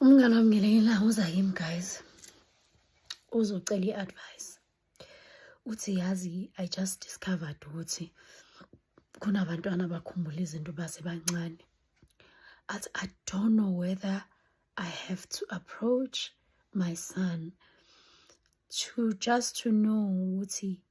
Umngane wami ngelinye ilanga uza kimi guys uzocela i-advice uthi yazi i just discovered ukuthi kunabantwana abakhumbula izinto basebancane athi i don't know whether i have to approach my son to just to know ukuthi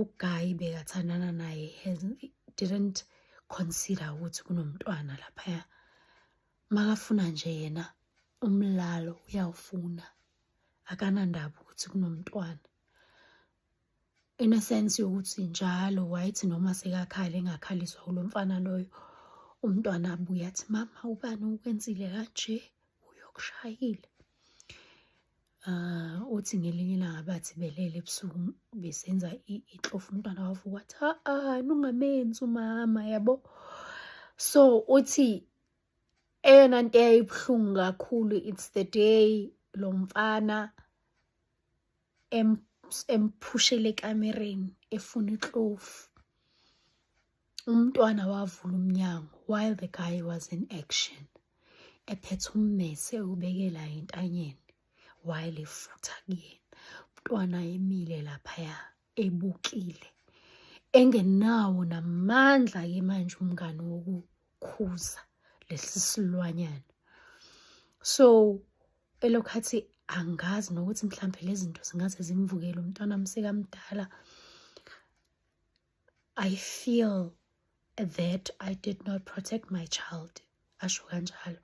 uguy bekathandana naye has didn't consider ukuthi kunomntwana laphaya makafuna nje yena umlalo uyawufuna akanandaba ukuthi kunomntwana in a sense yokuthi njalo wayethi noma sekakhale engakhaliswa kulo mfana loyo umntwana abuye athi mama ubani ukwenzile kanje uyokushayile Uh, uthi ngelinye ilanga bathi belele ebusuku besenza ixofu umntwana wafu wathi ha-a nungamenzi umama yabo so uthi eyona nto eyayibuhlungu kakhulu it's the day lo mfana emphushele ekamereni efuna iklofu umntwana wavula umnyango while the guy was in action ephethe ummese ubekela entanyeni while efutha kuyena umntwana emile laphaya ebukile engenawo namandla ke manje umngane wokukhuza lesi silwanyana so elokhathi angazi nokuthi mhlambe lezi zinto zingaze zimvukele umntwana msekamdala I feel that I did not protect my child asho kanjalo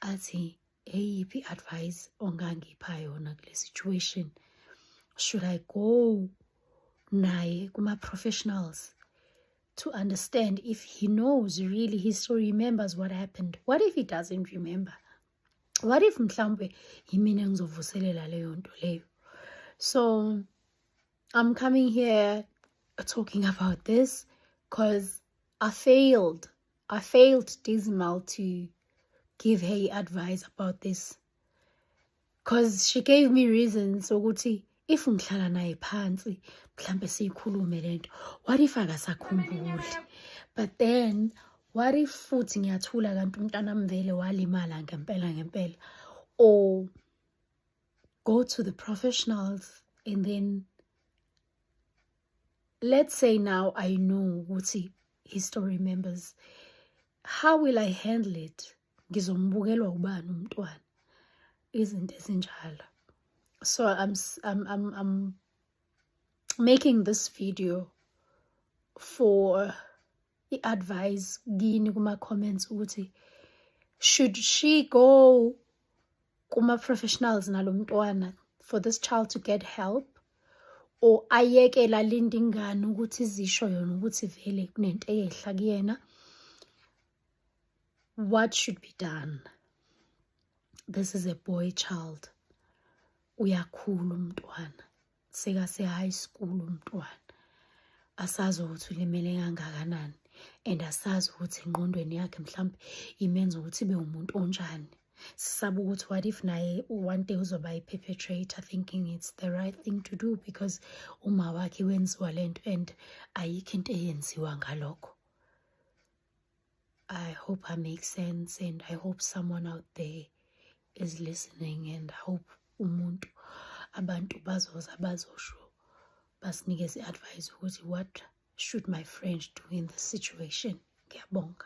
athi eyiphi advice ongangipha yona kule situation should I go naye kuma professionals to understand if he knows really he still remembers what happened what if he doesn't remember what if mhlawumbe yimina ngizovuselela leyo nto leyo so I'm coming here talking about this because I failed. I failed Dizimal to give her advice about this. Because she gave me reasons ukuthi if ngihlala naye phansi mhlambe siyikhulume lento what if akasakhumbuli but then what if futhi ngiyathula kanti umntana mvele walimala ngempela ngempela or go to the professionals and then let's say now I know ukuthi his story members how will I handle it ngizombukelwa ubani umntwana izinto ezinjalo so I'm, I'm, I'm, I'm making this video for i-advise kini kuma-comments ukuthi should she go kuma-professionals nalo mntwana for this child to get help or ayekele alinde ingane ukuthi izisho yona ukuthi vele kunento eyehla kuyena what should be done this is a boy child uyakhula umntwana sekase high school umntwana asazi ukuthi ulimele kangakanani and asazi ukuthi engqondweni yakhe mhlawumbe imenza ukuthi ibe umuntu onjani sisaba ukuthi what if naye one day uzoba i-perpetrator thinking it's the right thing to do because uma wakhe wenziwa le nto and ayikho into eyenziwa ngalokho I hope I make sense and I hope someone out there is listening and I hope umuntu abantu bazoza bazosho basinikeze advice ukuthi what should my friend do in this situation ngiyabonga